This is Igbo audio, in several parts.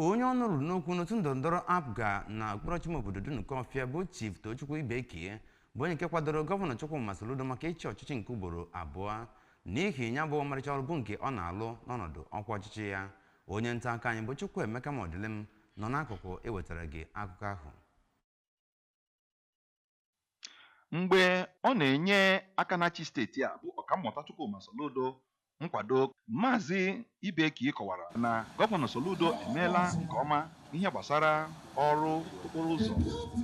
onye ọnụ ruru n'okwu n'otu ndọrọndọrọ apga na okpuru ọchịchị ime obodo dunukọfịa bụ chief tochukwu ibekie bụ onye nke kwadoro gọvanọ chukwuma soludo maka ịchị ọchịchị nke ugboro abụọ n'ihi ya bụ ọmarịcha ọrụ bụ nke ọ na-alụ n'ọnọdụ ọkwa ọchịchị ya onye nta akụkọ anyị bụ chukwuemeka modilim nọ n'akụkụ ewetara gị akụkọ ahụ Mgbe ọ na-enye aka na-achị steeti a bụ Ọkammụta Chukwuma Soludo nkwado, Maazị Ibekie kọwara na Gọvanọ Soludo emeela nke ọma n'ihe gbasara ọrụ okporo ụzọ,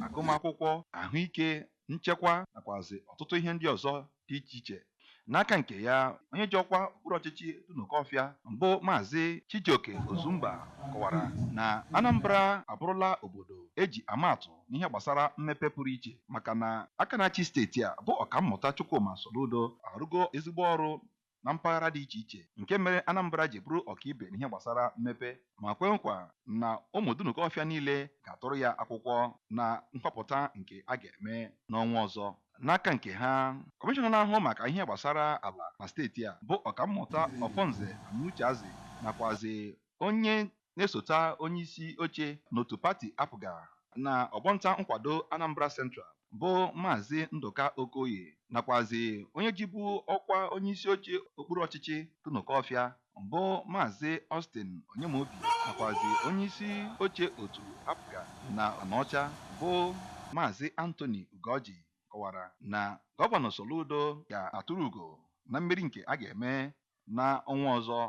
agụmakwụkwọ, ahụike, nchekwa nakwazị ọtụtụ ihe ndị ọzọ dị iche iche n'aka nke ya onye ji ọkwa okpuru ọchịchị Dunukọfịa bụ Maazị Chijioke Ozumba kọwara na Anambra abụrụla obodo e ji ama atụ n'ihe gbasara mmepe pụrụ iche maka na aka na-achị steeti a bụ Ọkammụta Chukwuma Soludo arụgo ezigbo ọrụ na mpaghara dị iche iche nke mere Anambra ji bụrụ ọkaibe n'ihe gbasara mmepe ma kwe nkwa na ụmụ Dunukọfịa niile ga-atụrụ ya akwụkwọ na nhọpụta nke a ga-eme n'ọnwa ọzọ. N'aka nke ha, Kọmishọna na-ahụ maka ihe gbasara ala na steeti a bụ Ọkammụta Ofonze Amucheazi nakwazị onye na-esota onyeisi oche n'otu pati APGA na ọgbọnta nkwado Anambra Central bụ Maazị Ndụka Okoye nakwazị onye jibu ọkwa onyeisi oche okpuru ọchịchị Dunukọfịa bụ Maazị Austin Onyemobi nakwazị onyeisi oche otu APGA na Anaọcha bụ Maazị Anthony Ugoji kọwara na Gọvanọ Soludo ga-atụrụ ugo na mmeri nke a ga-eme na ọnwa ọzọ.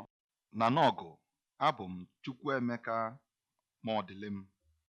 Na Nawgu, abụ m Chukwuemeka Modilim.